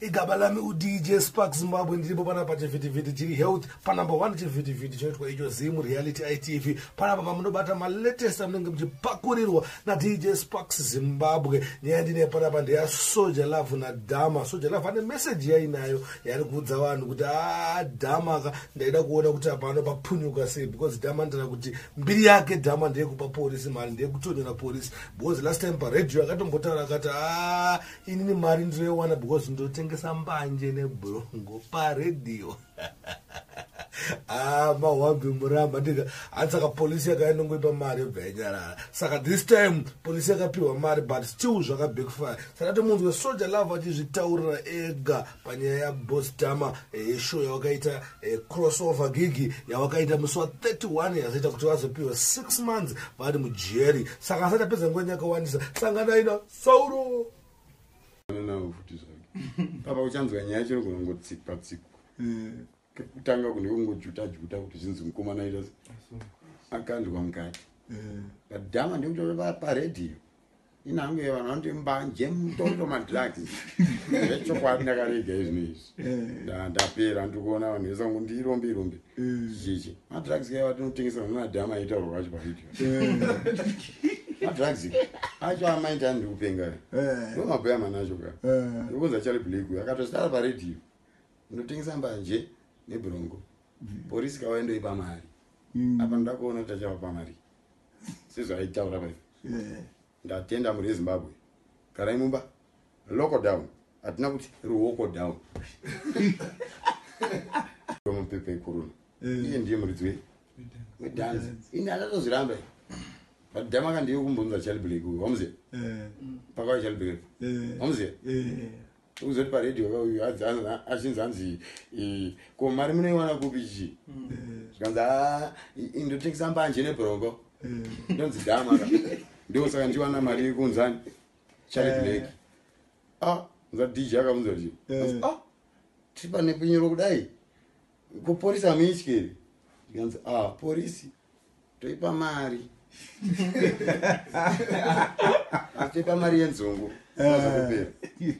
igaba lami udj spark zimbabwe ndiripo panapa chivhitivhiti chiri health panumber one chivhitivhiti chinoitwa icho zim reality itv panapa pamunobata malatest anenge muchipakurirwa nadj sparks zimbabwe nyaya ndine panapa ndeya soja love nadhama soja love ane meseji yainayo yaari kuudza vanhu kuti adhama ah, ka ndaida kuona kuti apano papunyuka sei because dhama ndira kuti mbiri yake dhama ndeyekupa porisi mari ndeyekutonyora porisi because last time paradio akatombotaura akati a ah, inini mari ndinoiwana because ndotengesa mbanje nebrongo paredio ah, mahwambi muramba ndika hanzi saka polisi yakaenda ngoipa mari yobva yanyarara saka this time polisi yakapiwa mari but still zvakabackfire saka tomunzwa soja love achizvitaurira ega panyaya yabostama eh, yeshow yawakaita eh, crossover gigi yawakaita musi wa 31 yazoita kuti vazopiwa 6 months vari mujeri saka asati apedza nguva nyakawandisa sanganaina sauro navo futi zvake papa uchanzwa nyaya chino kunongotsikwa tsikwa eh. kekutanga kune kungojuta juta kuti zvinzi mukomana ita akanzwa mukati eh. padhama ndikutoa paredhiyo inange vanhu vanoti mbanje mutoto madrugs zvechokwadi ndakarega izvino izvi Eh. ndapera ndiri kuona vanhu vese vangu ndirombe irombe eh. chichi madrugs kaiva tinotengesa nonadhama aitaurwa kwacho pavideo eh. madrugs acho amaiti ani ndiri kupenga ndo mabhuya manacho ka ndiri kunza chari blake uyo akatosara paredio ndotengesa mbanje nebrongo mm. porisi kawai ndoipa mari mm. apa ndoda kuona kuti achava pamari sezvaaitaura paipa Ndatenda muri ezimbabwe garai mumba local down hatina kuti ruoko down mupepa ikuruna eh. iye ndiye muridzi wei wedanzi ini anatozviramba but dama ka ndiye kumbunza chaliblake wamziva eh. pakava chaliblake wamziva eh. Uzoti pa radio pa uyu adzi achinzi anzi ko mari munoiwana kupi chi. Zvikanzi ah ndotengesa mbanje ne brongo. Ndonzi dama. Ndiko saka ndiwana mari yekunzani. Chari eh. black. Ah, za DJ akabvunza kuti. Eh. Ah, tipa nepinyoro kudai. kupolisi hamuityeri zvikanzi a ah, porisi toipa mari toipa mari yenzungu azokupera eh.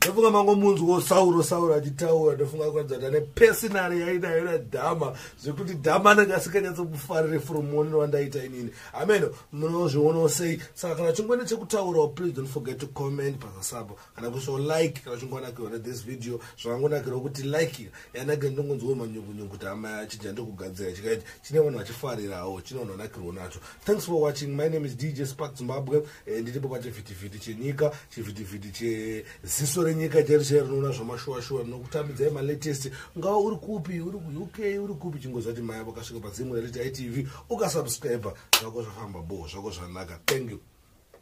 ndofunga mangomunzwo sauro sauro achitaura ndofunga kuratidza kuti ane pesinari yainayo nadhama zvekuti dhama anenge asikanyatsomufarire from muonero wandaita inini ameno munozvionawo sei saka kana chingwani chekutaurawo please don't forget to comment pazasapo kana kuiswa like kana uchingonakirwa nethis video zvakangonakirwa kuti like yanakira ndongonzwa manyukunyuku kuti hama chija ndokugadzira chikaiti chine vanhu vachifarirawo chine vanhu vanakirwa nacho thanks for watching my name is dj spark zimbabwe eh, ndiripo pachivhitivhiti chenyika chivhitivhiti cheziso renyika chairo chairo rinoona zvamashuwashuwa rinokutambidzai malatest ungava uri kupi uri kuuk uri kupi chingoziva kuti maya vakasvika pazimu raliti itv ukasubscribe zvako zvafamba bo zvako zvanaka thank you